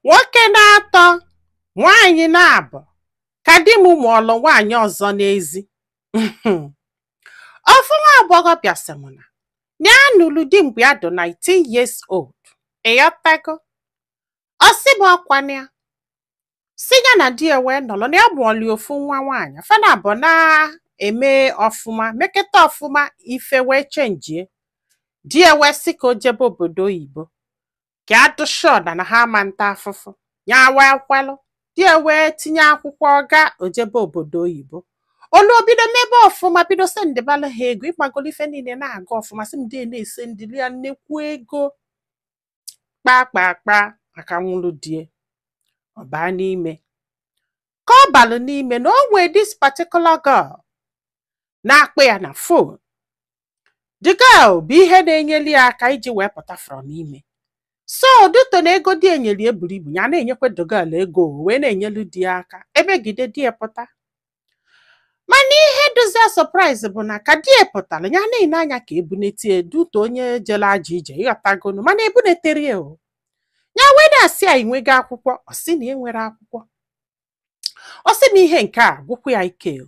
nwoke na-atọ nwaanyị na-abụ ka di m mụọlụ nwaanyị ọzọ n'ezi ofu nwa agbọghọ bịa sị m na ya nụrụ di mgbe ya dị 19 years old ịghọtago ọ sị m ọkwana ya sị ya na di ya wee nọrọ na ya mụọlụ ofu nwa nwaanyị fa na abụọ na-eme ọfụma meketa ọfụma ife wee chenjie di ya wee sị ka o jebe obodo oyibo ka a dị sure na ha ama nta afụfụ ya wee kwelụ di ya wee tinye akwụkwọ ọ gaa o jebe obodo oyibo o luo o bido mebe ọfụma bido sendịbala ha ego ịmagolu ife niile na-aga ọfụma sị m di ya na-esendịli ya nnekwu ego kpaa kpaa kpaa aka nwụrụ di ya ọ baa n'ime ka ọ balụ n'ime na o nwee this particular girl na-akpọ ya na phone the girl bụ ihe na-enyeli ya aka iji wee pụta from ime so due to na ego di ya nyeli ya buru ibu ya na-enyekwa the girl ego o wee na-enyelu di ya aka emegide di ya pụta mana ihe dịzi ya surprise bụ na ka di ya pụtara ya na-ele anya ka e bunete ya due to onye jere ajọ ije ịghọtagonu mana ebuneterọ ya o ya wee na-asị ya i nwego akwụkwọ ọ sị na ya enwerọ akwụkwọ ọ sị na ihe nke a gwụkwa ya ike o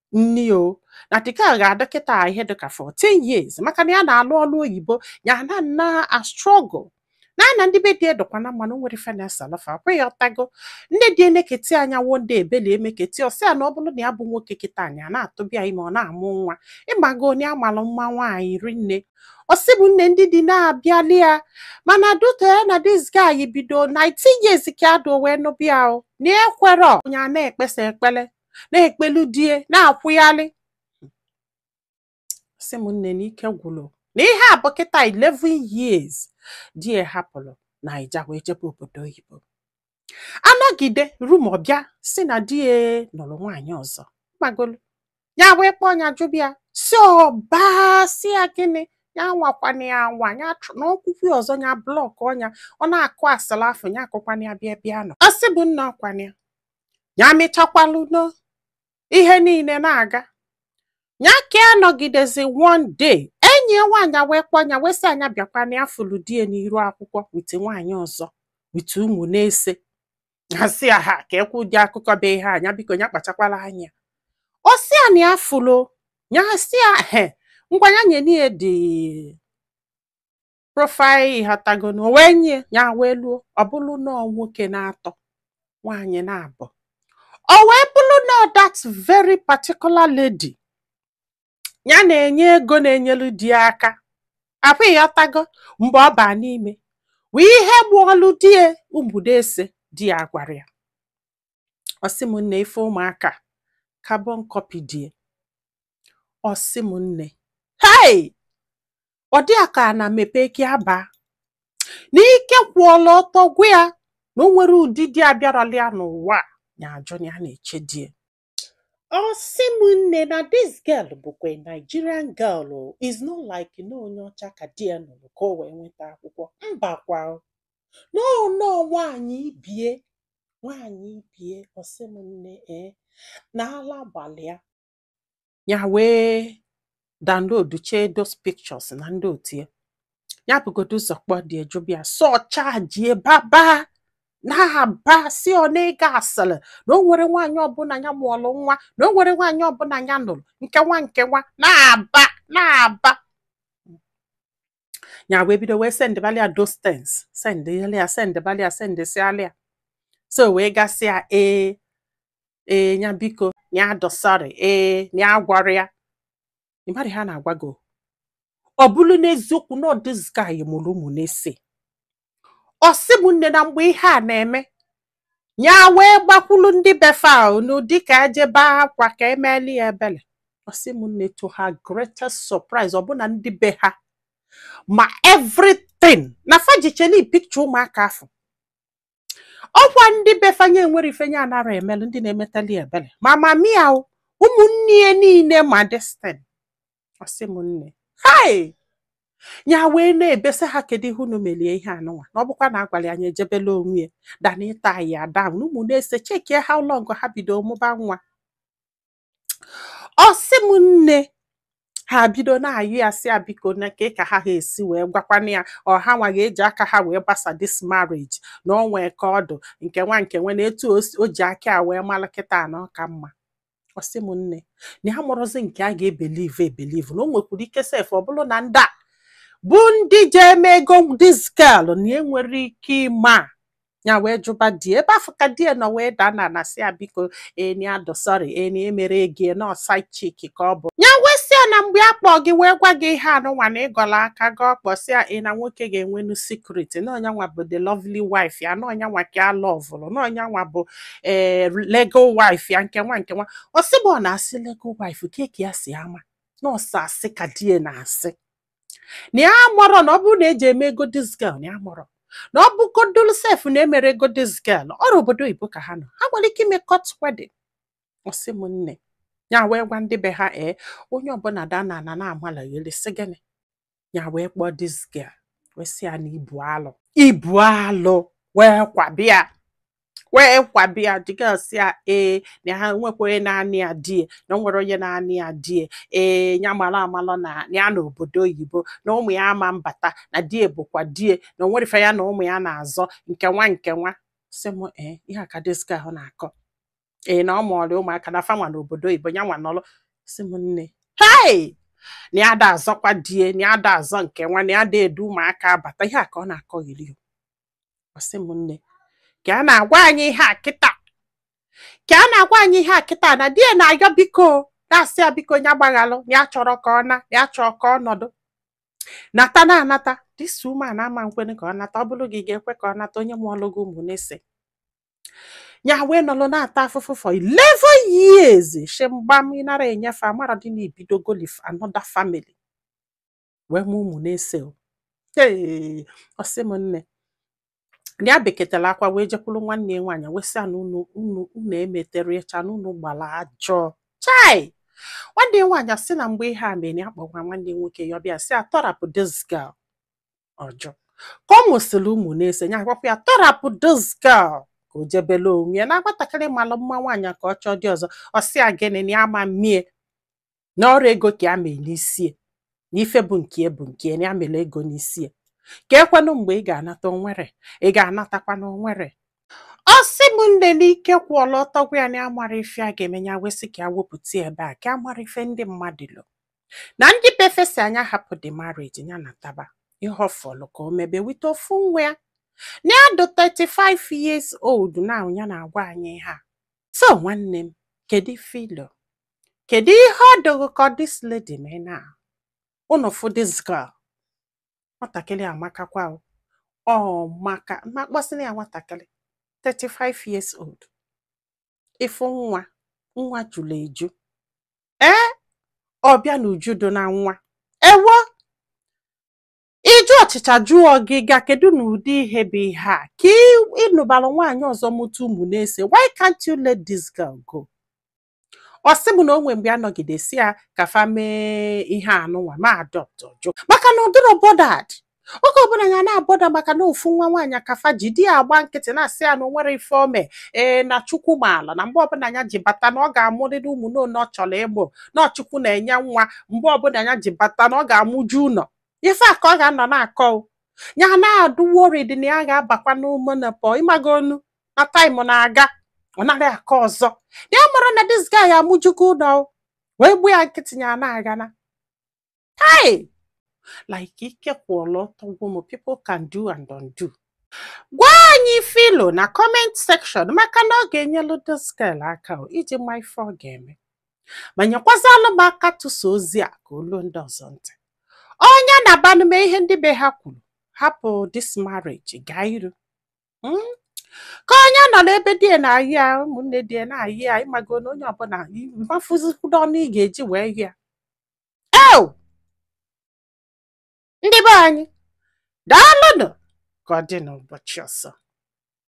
nni o na dịka a ga-adị kịta ihe dịka 14 years maka na ya na-alụ ọlụ oyibo ya na na-astruggle na na ndị be di edokwa na mmanụ nwere fenesalafa kwe ya ịghọtago nne di ya eneketa ya anya wo ndị ebeli emeketi ọ sị ya na ọ bụrụ na ya bụ nwoke kịta ya na-atụba ya ime ọ na-amụ nwa ịmago onye a malụ mma nwaanyị rinne ọ sị mụ nne ndị di na-abịali ya mana due to ya na this guy bido 19 years ka ya dị wee nụba ya o na ekwerọ ya na-ekpesa ekpele na-ekpelu di ya na-akwụghalị sị m nne na ike gwụrụ na ihe a bụ kịta 11 years di ya hapụrụ Naija wee jebe obodo oyibo anọgide rumour bịa sị na di ya nụrụ nwaanyị ọzọ ịmagolu ya wee kpọọ ya jụba ya sị ọ bịa sị ya gịnị ya anwakwana ya anwa na o kwukwa ya ọzọ ya blọkọ ya ọ na-akụ asịlị afụ ya akụkwana ya bịa bịa nọ ọ sị mụ nna ọkwana ya ya mechiekwalu ọnụ ihe niile na-aga ya ka anọgidezi one day enyi ya nwaanyị wee kpọọ ya wee sị ya ya bịakwa na ya fụlụ di ya n'iru akwụkwọ with nwaanyị ọzọ with ụmụ na-ese ya sị ya ha ka ekwu ụdị akụkọ be ihe ya biko ya kpachakwala anya ọ sị ya na ya fụlụ ya sị ya ehe ngwa ya nye n'ihe dị profile ịghọtagonu o wee nye ya wee luo ọ bụrụ na nwoke n'atọ nwaanyị n'abụọ wee bụrụ na that very particular lady ya na-enye ego na-enyelu di ya aka apụ ịghọtago mgbe ọ baa n'ime wee ihe bụ ọlụ di ya mbudo ese di ya gwara ya ọ sị m nne ife ụmụaka carbon copy di ya ọ sị m nne hei ọ dị ya ka ana mepee ka ya baa n'ike kwụọla ọtọ gwa ya na o nwere ụdị di abịarala ya n'ụwa a, ya ajụ na ya na-eche di ya ọ sị m nne na this girl bụkwa a Nigerian girl o, it's not like na onye ọcha ka di ya nụrụ ka o wee nweta akwụkwọ mbakwa o. no no nwaanyị ibe ya nwaanyị ibe ya ọ sị m nne ee na ala gbalị ya ya wee downloadchaa those pictures na ndị otu ya ya bụgodo ụzọ kpọọ di ya jụba ya so chajie baba na-aba si ọ na-ege asịrị na o nwere nwaanyị ọbụla ya mụọlụ nwa na o nwere nwaanyị ọbụla ya nụrụ nke nwa nke nwa na-aba na-aba ya wee bido wee sendịbalị ya those things sendịbalị ya sendịbalị ya sendịsịalị ya so wee gasịa ee ee nya biko nya dị sorry ee nya agwara ya ị mara ha na-agwa gị ọ bụrụ n'eziokwu na this guy mụrụ ụmụ n'ise ọ sị m nne na mgbe ihe a na-eme ya wee gbakwulu ndị be fa n'ụdị ka e jee bee akwa ka e meli ya ebele ọ sị m nne to her greatest surprise ọbụna ndị be ha ma everything na fa jicheli picture ụmụaka afụ ọkwa ndị be fa nya enwere ife nya anara emelu ndị na-emetali ebere ma mama ya o, ụmụnne ya niile ma this thing ọsị m nne hai ya wee na-ebesa ha kedu ihe unu melie ihe anụnwa na ọ bụkwa na agwara ya anyị ejebela onwe ya dana ịta ya down ụmụ n'ise checkie how long ha bido mụba nwa ọ sị m nne ha bido na-ayọ ya sị ya biko na ka ka ha ha esi wee gwakwana ya ọ ha nwa ga-eji aka ha wee gbasa this marriage na ọ nwee ka ọ dị nke nwa nke nwa na etu o ji aka ya wee mara kịta na ọ ka mma ọ sị m nne na ya amarọzi nke a ga-ebelieve ebelieve na o nwekwuru ike sef ọ bụrụ na ndị a bụ ndị ji eme ego this girl na enwere ike ịma ya wee jụba di ya ebe afụ ka di ya nọ wee daa ana na-asị ya biko na ya dị sorry na e mere gị nọọ side chick ka ọ bụ ya wee sị ya na mgbe a kpọọ gị wee gwa gị ihe anụnwa na ịgọla aka gị ọkpọ si ya ị na nwoke ga-enwenu secret na ọ nya nwa bụ the lovely wife ya na ọ nya nwa ka a lovụrụ na ọ nya nwa bụ ee legal wife ya nke nwa nke nwa ọ sị bụ ọ na-asị legal wife kee ka ya si ama na ọ sọ asị ka di ya na-asị na ya amarọ na ọ bụrụ na eji eme ego this girl na ya amarọ na ọ bụgodolu sef na emere ego this girl ọrụ obodo oyibo ka ha nọ ha nwere ike ime court wedding ọ sị m nne ya wee gwa ndị be ha ee onye ọbụla daa na ana na-amalagheli sị gịnị ya wee kpọọ this girl wee sị ya na ị bụ alụ ị bụ alụ wee kwabịa wee kwabi ya the girl sị ya ee na ha nwekwa onye na-anị ya di e na o nwere onye na-anị ya di e ee ya mara amalọ na na ya na obodo oyibo na ụmụ ya ama mbata na di e bụkwa di e na o nwere ife ya na ụmụ ya na-azọ nke nwa nke nwa sị m ee ihe a ka this girl ahụ na-akọ ee na ọ mụọrọ ụmụaka na fanwa na obodo oyibo ya nwa nọrọ sị m nne hei na ya da azọkwa di e na ya da azọ nke nwa na ya da edu ụmụaka abata ihe a ka ọ na-akọ yiri ọ sị m nne ka a na-agwa anyị ihe a kịta ka a na-agwa anyị ihe a kịta na di ya na-ayọ biko na-asị ya biko ya gbaghalụ ya chọrọ ka ọ na ya chọọ ka ọ nọdụ nata na anata this woman ama nkwene ka ọ nata ọ bụrụ gị ga-ekwe ka ọ nata onye mụọlụ gị ụmụ na-ese ya wee nọlụ na-ata afụfụ for 11 years shemgbam ịnara enye ife amara dị na ibidogoli another family wee mụ ụmụ na-ese ee ọ sị m nne ya bekatara akwa wee jekwuru nwanne ya nwaanyị wee sị na unu unu unu emetere ịcha na unu gbara ajọ chai nwanne ya nwaanyị asị na mgbe ihe a mere ya kpọgwa nwanne ya nwoke ya ọ bịa sị ya tọrapụ this girl ọ jụ ka ọ mụsịrị ụmụ na-ese ya gwakwa ya tọrapụ this girl ka o jebele onwe ya na nwatakịrị malụ mma nwaanyị ka ọ chọọ di ọzọ ọ sị ya gịnị na ya ama mmie na ọrụ ego ka ya mee n'isie na ife bụ nke bụ nke na ya mere ego n'isie ka ekwenụ mgbe ị ga-anata onwere ị ga-anatakwa na onwere ọ sị m nne n'ike kwụọlọ ọtọ gwụ ya na amara ife a ga-eme ya wee sị ka ya wepụta ya ebe a ka ya mara ife ndị mmadụ lo na ndị befesi anya hapụ the marriage ya nataba ihe ọfọlụ ka o mebe wite ofu nwa ya na ya dị 35 years old na ya na-agwa anyị ihe a so nwanne m kedu ife i lo kedu ihe ọ dụ ghị ka this lady mee na unu fụ this girl nwatakịrị amakakwa o. ọ maka mma kpọsịna ya nwatakịrị 35 years old ị fụ nwa nwa jụrụ eju ee ọbịa na uju dị na nwa ewo ije ọchịcha jụọ gị ga kedu na ụdị ihe bụ ihe a ka ị- ịnụbara nwaanyị ọzọ mụta ụmụ na-ese why can't you let this girl go ọ sị m na o nwee mgbe a nọgidesi ya ka fa mee ihe anụnwa ma adopt ọ jụ maka na ọ dịrọ bothered oge ọbụla ya na-abother maka na ofu nwa nwaanyị ka fa ji di ya agba nkịtị na-asị ya na o nwerọ ife o me ee na chukwu maala na mgbe ọbụla ya ji bata na ọ ga-amụrịrị ụmụ n'one ọ chọrọ ịmụ na ọ chukwu na-enye nwa mgbe ọbụla ya ji bata na ọ ga-amụju ụlọ ife a ka ọ ga-anọ na-akọ o. ya na-adụ worried na ya ga-abakwa na menopause ịmagonu na time na-aga ọ naghị aka ọzọ na ya amarọ na this guy amụjugo ụlọ wee gbuo ya nkịtị ya na-aga na hai like ike kwụọla ọtọ gwụ m people can do and undo gwa anyị ife i lo na comment section maka na ọ ga-enyelu this girl aka o, iji ma ife ọ ga-eme ma nyekwazalụ m aka tụsa ozi a ka o lu ndị ọzọ ntị ọ nya nabanụ mee ihe ndị be ha kwuru hapụ this marriage gaa iru Mm? ka ọ nya nọ n'ebe di ya na-ayị ya ụmụnne di ya na-ayị ya ịmago na onye ọbụla mafụzikwudo ọnụ ị ga-eji wee yị ya eo ndị be anyị daalụnụ ka ọ dị n'ụbọchị ọzọ